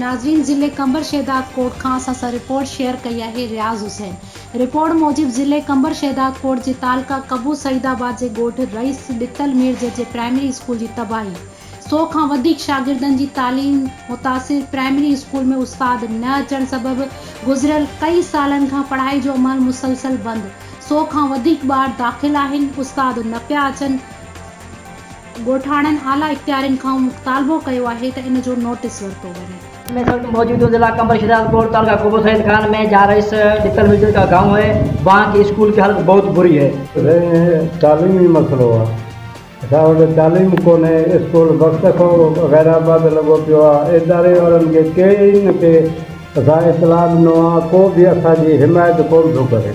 ناظرين ضلعي قمبر شهداد ڪوٽ کان اسان سان رپورٽ شيئر ڪئي آهي رياض حسين رپورٽ موجب ضلعي قمبر شهداد ڪوٽ جي تعلقه قبو سعيد آباد جي ڳوٺ رئيس ڏتل ميرجي جي پرائمري اسڪول جي تباهي سؤ کان وڌيڪ شاگردن جي تعليم متاثر پرائمري اسڪول ۾ استاد نه اچڻ سبب گذريل ڪئي سالن کان پڙهائي جو عمل مسلسل بند سؤ کان وڌيڪ ٻار داخل آهن استاد نه پيا اچن ڳوٺاڻن اعليٰ اختيارين کان مطالبو ڪيو آهي ته ان جو نوٽس ورتو وڃي. ۾ سبق موجود هو ضلع قمبر شهداد ڪوٽ تعلقه قبو سيد خان ۾ جهان رئيس ڏتل ملجل ڪا گائون هي وهان ڪي اسڪول ڪي حالت بهت بري هي. رهي هي تعليمي مسئلو آ. اسان وٽ تعليم ڪونهي، اسڪول وقت کان غيرآباد لڳو پيو آ، اداري وارن کي ڪئين کي اسان اطلاع ڏنو آ، ڪو به اسان جي حمايت ڪون ٿو ڪري.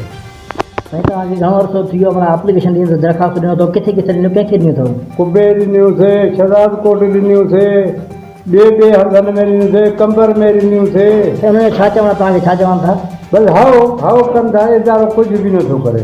سائين توهان کي گهڻو عرصو ٿي ويو آ، اپليڪيشن ڏيندي ٿو، درخواست ڏنو ٿو، ڪٿي ڪٿي ڏنيون، ڪنهن کي ڏنيون اٿئو؟ قبي ڏنيون سي، شهداد ڪوٽ ڏنيون سي، ٻي ٻي هنڌن ۾ ڏنيون سي، قمبر ۾ ڏنيون سي. سائين انهن جو ڇا چوڻ آ، توهان کي ڇا چون ٿا؟ بس هائو هائو ڪن ٿا، ادارو ڪجهه به نه ٿو ڪري.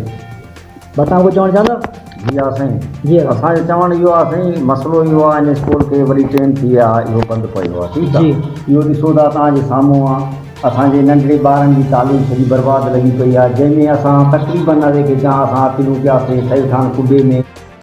متان ڪجهه چوڻ چاهندؤ؟ جي ها سائين. جي ها. اسان جو چوڻ اهو آهي سائين مسئلو اهو آهي ان اسڪول کي وڏي ٽيم ٿي وئي آهي اهو بند پيو آهي ٺيڪ آهي اهو ڏسو ٿا توهان جي سامهون آهي اسان جي ننڍڙي ٻارن جي تعليم سڄي برباد لڳي پئي آهي جنهن ۾ اسان تقريبن اوهي کي جا اسان اپيلون ڪياسين سيد خان ڪبي ۾.